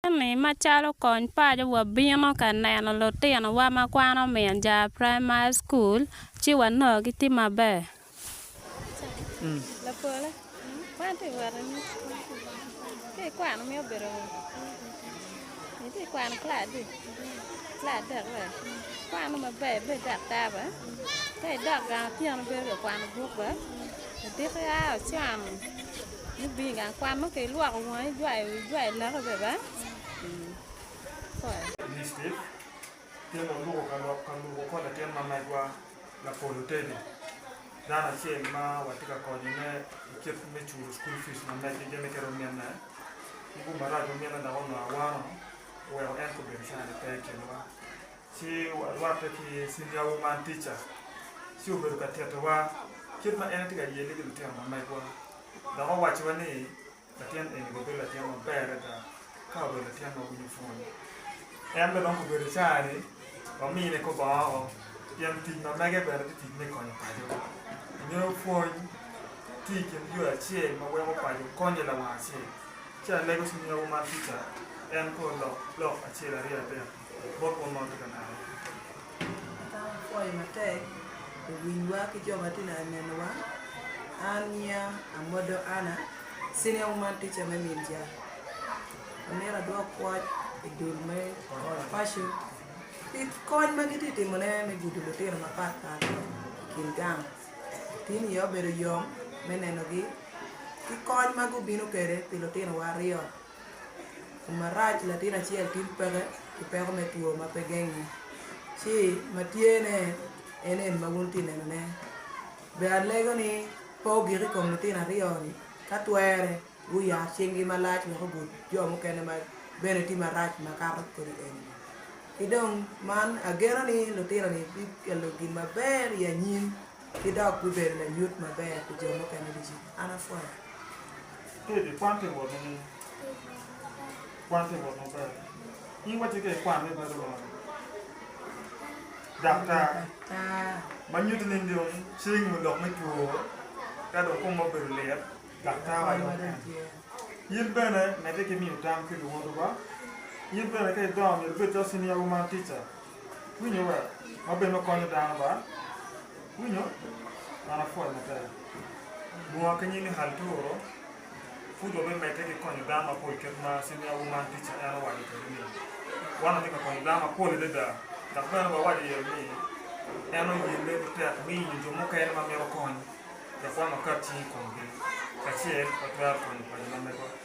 Jami macalo kony paco wabino ka neno lutinowa ma kwano min jar primary school ci wanongo gitye maber. ibino i gang kwan nongo ka ilwoko wangi ijwayo wi ijwayo laki bene ba ipwoyo. District, Tyene oluko ka lok ka lubo kor latin ma megwa Lapolo Teddy, dano acel ma watye ka konyone i kit me culo school fees ma meggi gin mito mine. Ki gumarac ma mine dok onongo awano oweko en kobedo cani pe i kinwa. Ci warwatte ki cindiwa wuman tica. Ci obedo ka titowa kit ma en etye ka yelle ki lutino ma megwa, dok owacciwa ni latin eni bibedo latin maber adada ka obedo latin ma winyo pwony. En bene dong obedo caa-ni wamine kor bongo woko pien tic ma mege bene tye tic me konyo paco. Ingeyo pwony tye i kin yo acel ma weko paco konye lawang acel. Ci alego cindiwa wuman tica en kor lok lok acel aryo adek. bot mon ma watye ka neno-ni. Eka wapwoyo matek luwilwa ki jo ma tye ka nenowa. An nyinga Amodo Anna, Senior Woman Teacher me Minca. Amito adwok pwoc i dul me Old Fashion pi kony ma gitye ka timone me gudo lutino mapatpat i kin gang. Tin iye obedo yom me nenogi ki kony ma gubino kwede pi lutinowa aryo. Tum marac latin acel tin peke ki peko me two ma pe genge ci ma tye ne en eni ma wun wutye ka neno ne. Bene alego ni pe wugik i kom litino aryo ni ka twere guyar cing gi malac wek ogut jo mukene ma bene tye marac ma kato kodi eni. Ki dong man ageno ni litino ni bi kelo gin maber i anyim. ki dok bibedo layut maber pi jo mukene ducu. An apwoya. Teddy, kwan te wot nining? Kwan te wot maber. In wacci ka ikwan me bedo mene? Daktar. Ma nyuto ni dong cingi odok me two, ka dong kong obedo lit, daktar wa dong en. In bene medde ki miyo tam ki luwotowa. In bene ka idongo myero ibed calo senior wu man tica. Winyo wek wabed me konyo dano ba winyo man apwony maber. Bunga ki nyimi hali pe oto, pud wabimedde ki konyo dano mapol kit ma Senior Woman Teacher en owaco kwede ni, Wan watye ka konyo dano mapol adada dok bene wawaco iye ni en oyelle matek miyo jo mukene ma mito kony dok wan wakat cing i komgi kacel watwero konyo paco ma mego.